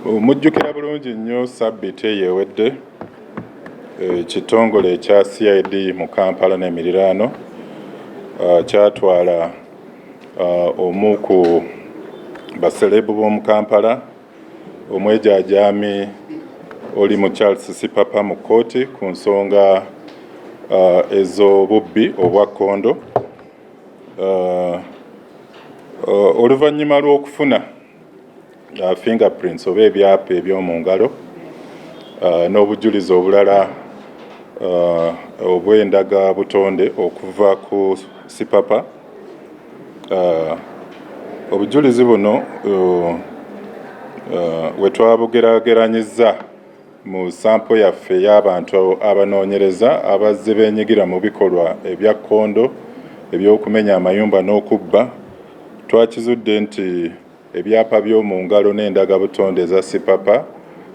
Mujjukira bulungi nnyo sabbiti eyo ewedde ekitongole ekya CID mu Kampala n'emiriraano uh, kyatwala uh, omu ku baselebu b'omu Kampala omwejaajami oli mu Charles Sipapa mu kkooti ku nsonga uh, ez'obubbi obwa kkondo oluvannyuma lw'okufuna uh, fingerprints oba ebyapa eby'omu ngalo uh, n'obujulizi obulala uh, obw'endaga butonde okuva ku sipapa uh, obujulizi buno uh, uh, wetwabugerageranyizza Mu sampo yaffe ey'abantu abanoonyereza abazze beenyigira mu bikolwa ebya kkondo eby'okumenya amayumba n'okubba, twakizudde nti ebyapa by'omu ngalo n'endagabutonde eza Sipapa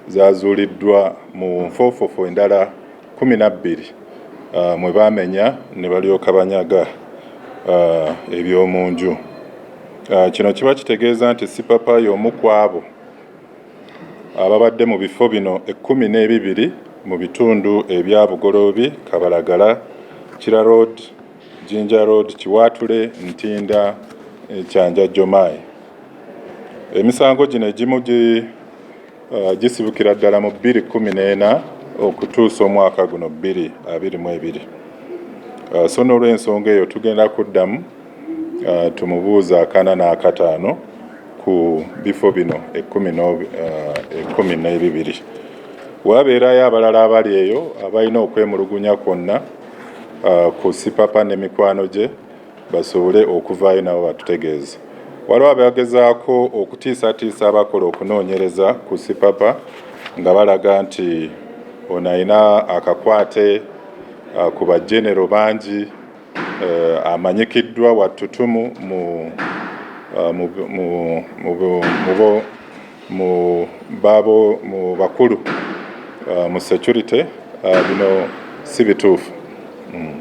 zaazuuliddwa mu nfoofofo endala kkumi na bbiri mwe baamenya ne balyoka banyaga eby'omu nju. Kino kiba kitegeeza nti Sipapa y'omu kw'abo. ababadde mu bifo bino ekkumi n'ebibiri mu bitundu ebya Bugoloobi, Kabalagala, Kira Road, Jinja Road, Kiwaatule, Ntinda, Kyanjajjomai. Emisango gino egimu uh, gisibukira ddala mu bbiri kkumi n'ena okutuusa omwaka guno bbiri abiri mu ebiri. Uh, so n'olw'ensonga eyo tugenda kuddamu uh, tumubuuza akana n'akataano ku bifo bino ekkumi uh, n'ebibiri wabeerayo abalala abali eyo abalina okwemulugunya kwonna uh, ku sipapa ne mikwano gye basobole okuvaayo nabo batutegeeze waliwo abagezaako okutiisatiisa abakola okunoonyereza ku sipapa nga balaga nti ono alina akakwate uh, ku bajenero bangi Eh, amanyikiddwa wa ttutumu eh, mu bakulu eh, mu security bino si bituufu. Hmm.